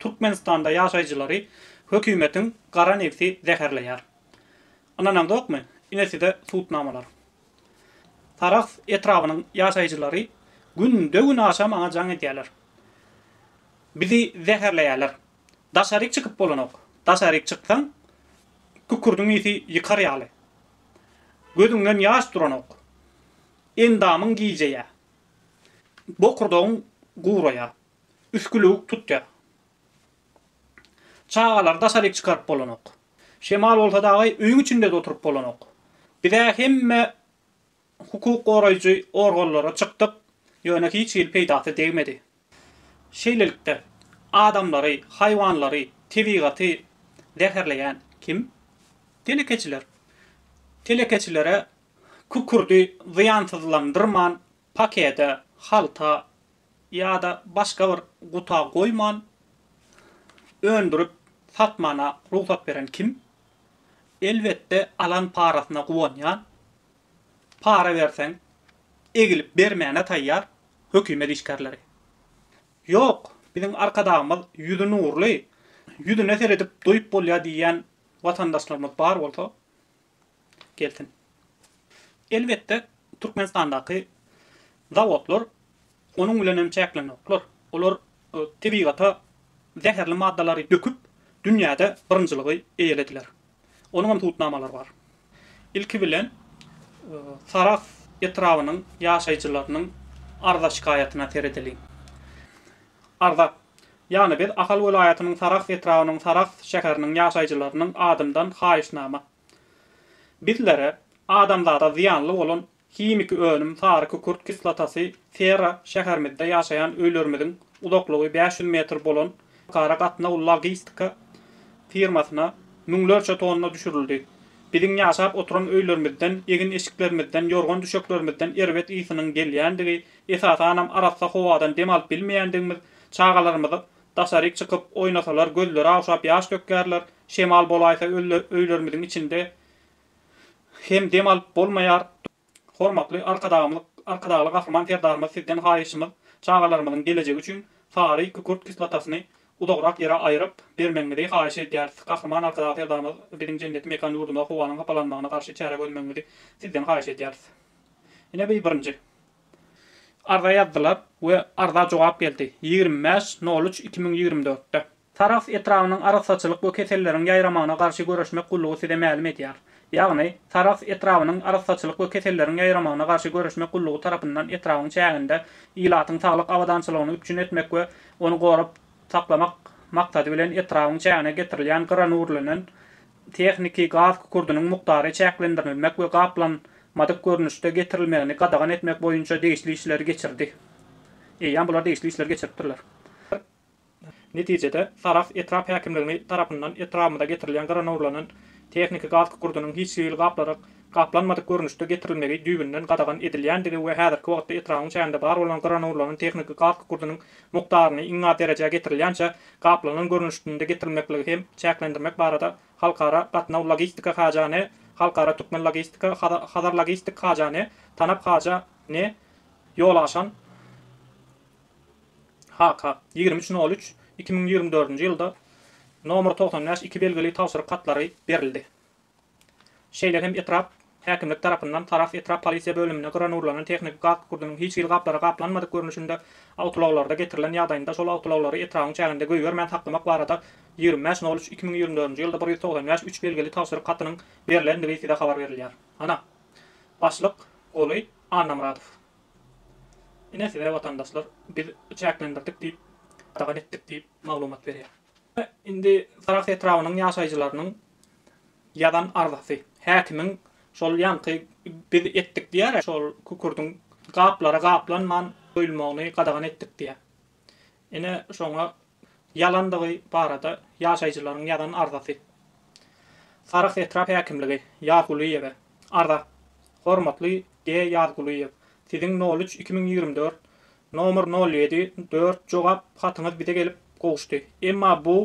Türkmenistanda ýaşaýjylary hökümetiň gara nebsi zäherleýär. Ynanaňzokmy, ine size subutnamalar. Sarahs etrabynyň ýaşaýjylary günde-günaşa maňa jaň edýärler. Bizi zäherleýärler. Daşaryk çykyp bolanok. Daşaryk çyksaň, kükürdiň ysy ýykar ýaly. Gözüňden ýaş duranok. Endamyň gijeýär. Bokurdagyň guraýar. Üsgülewük tutýar. Çagalary daşaryk çykaryp bolanok. Şemal bolsa dagaý öýüň içinde-de oturyp bolanok. Biz-ä hemme hukuk goraýjy organlara çykdyk, ýöne hiç hili peýdasy degmedi. Şeýlelikde, adamlary, haýwanlary, tebigaty zäherleýän kim? Telekeçiler. Telekeçilere kükürdi zyýansyzlandyrman Pakete, halta ýa-da başga bir guta goýman öndürip satmana rugsat beren kim? Elbetde alan parasyna guwanýan, para berseň egilip bermäne taýýar hökümet işgärleri. Ýok, biziň Arkadagymyz ýüzi nurly, ýüzüne seredip doýup bolýar diýýän watandaşlarymyz bar bolsa, gelsin. Elbetde, Türkmenistandaky zawodlar onuň bilen hem çäklenoklar. Olar tebigata zäherli maddalary döküp, dünýäde birinjiligi eýelediler. Onuň hem subutnamalary bar. Ilki bilen, Sarahs etrabynyň ýaşaýjylarynyň arza-şikaýatyna seredeliň. Arzak. Ýagny biz Ahal welaýatynyň Sarahs etrabynyň Sarahs şäheriniň ýaşaýjylarynyň adyndan haýyşnama. Bizlere adamzada zyýanly bolan himiki önüm sary kükürt kislotasy sera şäherimizde ýaşaýan öýlerimiziň uzaklygy bäş ýüz metr bolan Halkara gatnaw logistika firmasyna müňlerçe tonna düşürildi. Biziň ýaşap oturan öýlerimizden, egin-eşiklerimizden, ýorgan-düşeklerimizden erbet ysynyň gelýändigi Esasanam arassa howadan dem alyp bilmeýändigimiz, çagalarymyzy daşaryk çykyp oýnasalar gözleri awşap ýaş dökýärler, şemal bolaýsa öýlerimiziň içinde hem dem alyp bolmaýar. Hormatly Arkadagymyz Arkadagly Gahryman Serdarymyz sizden haýyşymyz çagalarymyzyň gelejegi üçin sary kükürt kislotasyny uzagrak ýere aýyryp bermegiňizi haýyş edýäris. Gahryman Arkadag Serdarymyz biziň jenneti mekan ýurdumyza howanyň hapalanmagyna garşy çäre görmegiňizi sizden haýyş edýäris. Ine bi birinji. Arza ýazdylar we arza jogap geldi, ýigrimi bäş nol üç iki müň ýigrimi dörtde. Sarahs etrabynyň Arassaçylyk we keselleriň ýaýramagyna garşy göreşmek gullugy size mälim edýär. Ýagny, Sarahs etrabynyň Arassaçylyk we keselleriň ýaýramagyna garşy göreşmek gullugy tarapyndan etrabyň çäginde ilatyň saglyk abadançylygyny üpjün etmek we ony gorap saklamak maksady bilen etrabyň çägine getirilýän gyranurlenen tehniki gaz kükurdynyň mukdary çäklendirilmek we gaplanmadyk görnüşde getirilmegini gadagan etmek boýunça degişli işleri geçirdi. Eýýäm bular degişli işleri geçiripdirler. Netijede, Sarahs etrap häkimligini tarapyndan etrabymyza getirilýän gyranowrlanan tehniki gaz kükurdynyň hiç hili gaplaryk gaplanmadyk görnüşde getirilmegi düýbünden gadagan edilýändigi we häzirki wagtda etrabyň çäginde bar bolan gyranowrlanan tehniki gaz kükurdynyň mukdaryny iň az derejä getirilýänçä gaplanan görnüşdnde getirilmekligi hem çäklendirmek barada Halkara gatnaw logistika haja ne Halkara türkmen logistika Hazar logistik haja ne Tanap haja ne ýola aşan HK ýigrimi üç nol üç iki müň ýigrimi dördünji ýylda nomeri togsan bäş iki belgili tabşyryk hatlary berildi. Şeýle hem etrap häkimlik tarapyndan Sarahs etrap polisiýa bölümine gyra nurlanan tehniki gaz kükürdiniň hiç hili gaplara gaplanmadyk görnüşinde awtoulaglarda getirilen ýagdaýynda şol awtoulaglary etrabyň çäginde goýbermän saklamak barada ýigrimi beş nol üç iki müň ýigrimi dördünji ýylda bir ýüz togsan bäş üç belgili tabşyryk hatynyň berlendigi size habar berilýär. Ana. Başlyk, Guly Annamyradow. Ine size watandaşlar biz çäklendirdik diýip, gadagan etdik diýip maglumat berýär. Indi Sarahs etrabynyň ýaşaýjylarynyň ýazan arzasy. Häkimiň şol ýaňky biz etdik diýýär-ä, şol kükürdiň gaplara gaplanman goýulmagyny gadagan etdik diýýär. Ine, şoňa ýalandygy barada ýaşaýjylaryň ýazan arzasy. Sarahs etrap häkimligi Ýazgulyýewe arza. Hormatly G. Ýazgulyýew, Siziň nol üç iki müň ýigrimi dört, nomer nol ýedi, dört jogap hatyňyz bize gelip gowuşdy. Emma bu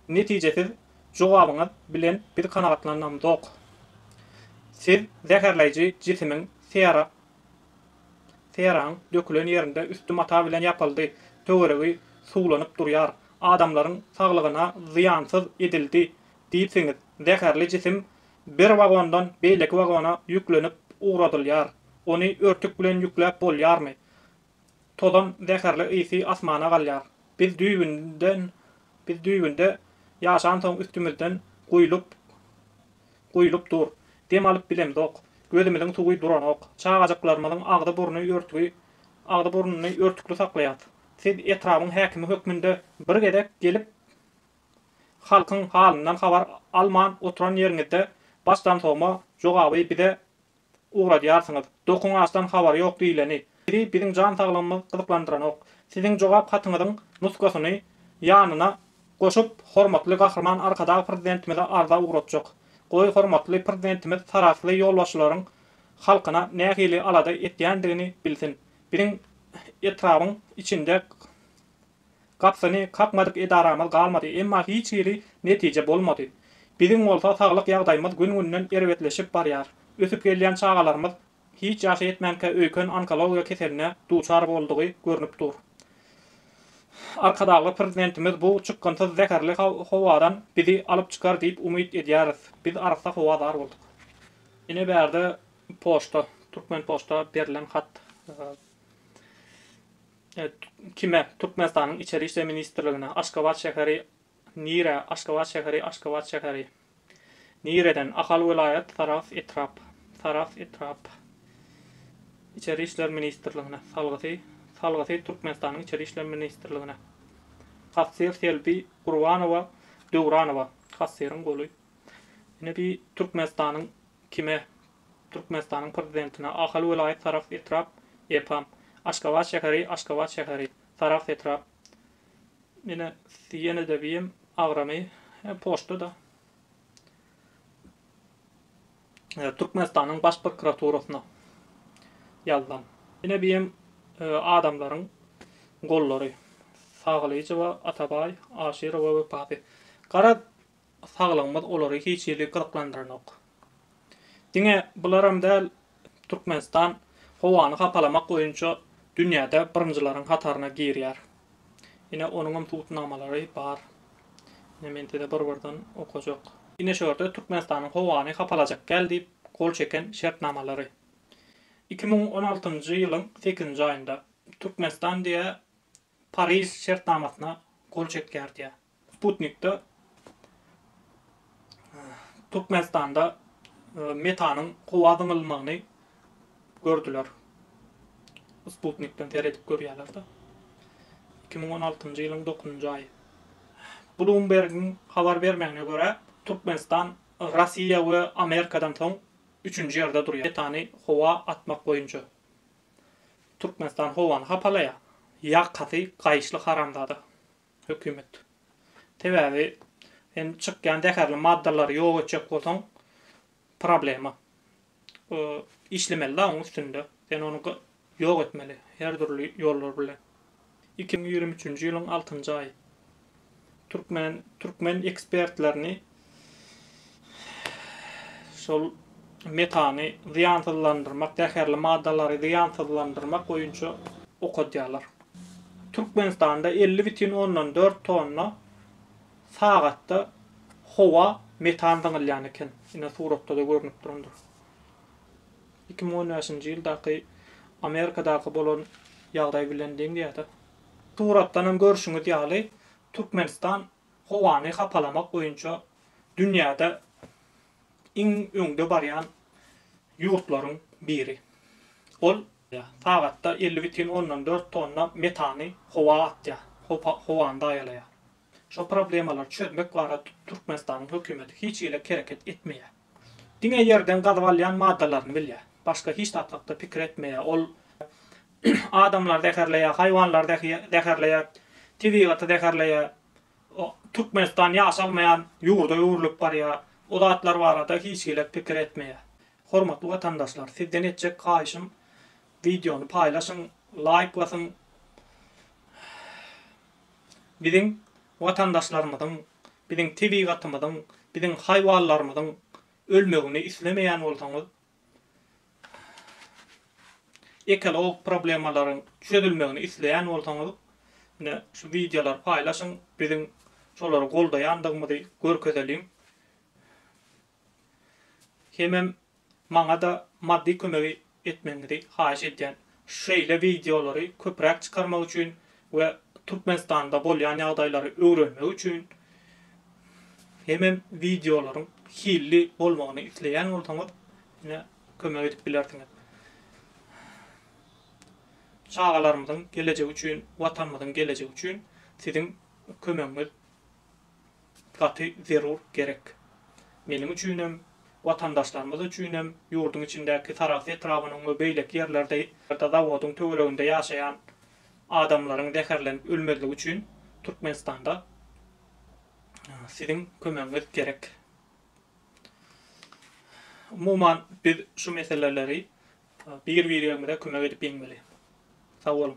netijesiz jogabyňyz bilen biz kanagatlanamzok. Siz zäherleýji jisimiň sera, seraň, dökülen ýerinde üsti mata bilen ýapyldy, töweregi suwlanyp durýar, adamlaryň saglygyna zyýansyz edildi diýipsiňiz, zäherli jisim Bir wagondan beýleki wagona ýüklenip ugradylýar. Ony örtük bilen ýükläp bolýarmy? Tozan zäherli ysy asmana galýar. Biz düýbünden, biz düýbünde ýaşansoň üstümizden guýlup, guýlup dur. Dem alyp bilemzok. Gözümiziň suwy duranok. Çagajyklarymyzyň agzy-burny örtügi, agzy-burnuny örtükli saklaýas. Siz etrabyň häkimi hökmünde bir gezek gelip Halkyň halyndan habar alman oturan ýeriňizde başdan sogma jogaby bize ugradýarsyňyz. Dokuň açdan habary ýok diýleni. Sizi biziň jan saglygymyz gyzyklandyranok. Siziň jogap hatyňyzyň nusgasyny ýanyna goşup hormatly Gahryman Arkadag Prezidentimize arza ugratjak. Goý hormatly Prezidentimiz sarahsly ýolbaşçylaryň halkyna nähili alada etýändigini bilsin. Biziň etrabyň içinde Gapysyny kakmadyk edaramyz galmady, emma hiç hili netije bolmady. Biziň bolsa saglyk ýagdaýymyz gün-günden erbetleşip barýar. Ösüp gelýän çagalarymyz hiç ýaşy ýetmänkä öýken onkologiýa keseline duçar boldugy görnüp dur. Arkadagly Prezidentimiz bu çykgynsyz zäherli howadan bizi alyp çykar diýip umyt edýäris. Biz arassa howa zar bolduk. Ine bärde poçta, Türkmenpoçta berilen hat. Kime, Türkmenistanyň Içeri işler ministrligine, Aşgabat şäheri Nire, Aşgabat şäheri Aşgabat şäheri Nireden, Ahal welaýat Sarahs etrap, Sarahs etrap Içeri işler ministrligine, Salgysy, Salgysy Türkmenistanyň Içeri işler ministrligine, Kassir Selbi Gurbanowa, Döwranowa, Kassiryň goly, Ine bi Türkmenistanyň Kime, Türkmenistanyň Prezidentine Ahal welaýat Sarahs etrap, EPAM, Aşgabat şäheri, Aşgabat şäheri, Sarahs etrap, ine, ýene-de bim agramy, e, poçta-da. E, Türkmenistanyň Baş prokuraturasyna ýazsam. Ine, bim e, adamlaryň gollary, Sagylyjowa, Atabaý, Aşyrowa we Papi. Garaz, saglygymyz olary hiç hili gyzyklandyranok. Diňe bularam däl, Türkmenistan howany hapalamak boýunça dünýäde birinjileriň hataryna girýär. Ine, onuňam subutnamalary bar. Ine, men size bir-birden okajak. Ine, şu ýerde Türkmenistanyň howany hapalajak däl diýip gol çeken şertnamalary. Iki müň on altynjy ýylyň sekizinji aýynda Türkmenistan diýýär, Pariž şertnamasyna gol çekýär diýýär. Sputnikde Türkmenistanda metanyň howa zyňylmagyny gördüler. Sputnikden seredip görýärler-de. Iki müň on altynjy ýylyň dokuzynjy aýy. Bloombergiň habar bermegine görä, Türkmenistan Russiýa we Amerikadan soň üçünji ýerde durýar metany howa atmak boýunça. Türkmenistan howany hapalaýar. Ýakasy gaýyşly haramzada hökümet. Sebäbi sen çykýan zäherli maddalary ýok etjek bolsaň problema. Işlemeli-de oň üstünde. Sen ony ýok etmeli her dürli ýollar bilen. Iki müň ýigrimi üçünji ýylyň altynjy aýy. Türkmen türkmen ekspertlerini şol metany zyýansyzlandyrmak, zäherli maddalary zyýansyzlandyrmak boýunça okadýarlar. Türkmenistanda elli bütin ondan dört tonna sagatda howa metan zyňylýan eken. Ine suratda-da görnüp durandyr. iki müň on bäşinji ýyldaky Amerikadaky bolan ýagdaý bilen deňdäýdä. Suratdan hem görşüňiz ýaly, Türkmenistan howany hapalamak boýunça dünýäde iň öňde barýan ýurtlaryň biri. Ol sagatda elli bütin ondan dört tonna metany howa atýar, howany zaýalaýar. Şo problemalary çözmek barada Türkmenistanyň hökümeti hiç hili hereket etmeýär. Diňe ýerden gazyp alýan maddalaryny bilýär. Başga hiç zat hakda pikir etmeýär. Ol adamlary zäherleýär, haýwanlary zäherleýär, tebigaty zäherleýär. Türkmenistan ýaşalmaýan ýurda öwrülip barýar. O zatlar barada hiç hili pikir etmeýär. Hormatly watandaşlar, sizden etjek haýyşym wideony paýlaşyň, laýk basyň. biziň watandaşlarymyzyň, biziň tebigatymyzyň, biziň haýwanlarymyzyň ölmegini islemeýän bolsaňyz, ekologik problemalaryň çözülmegini isleýän bolsaňyz, ine, şu wideolary paýlaşyň, biziň şolary goldaýandygymyzy görkezeliň. Hemem maňada maddy kömegi etmegiňizi haýyş edýän. Şeýle wideolary köpräk çykarmak üçin we Türkmenistanda bolýan ýagdaýlary öwrenmek üçin hemem wideolaryň hilli bolmagyny isleýän bolsaňyz ine kömek edip bilersiňiz. Çagalarymyzyň gelejegi üçin, watanymyzyň gelejegi üçin siziň kömegiňiz gaty zerur, gerek. Meniň üçinem, watandaşlarymyz üçinem, ýurduň içindäki Sarahs etrabynyň we beýleki ýerlerde zawodyň töwereginde ýaşaýan adamlaryň zäherlenip ölmezligi üçin Türkmenistanda siziň kömegiňiz gerek. Umuman, biz şu meseleleri bir-birigimize kömek edip ýeňmeli. Sag boluň!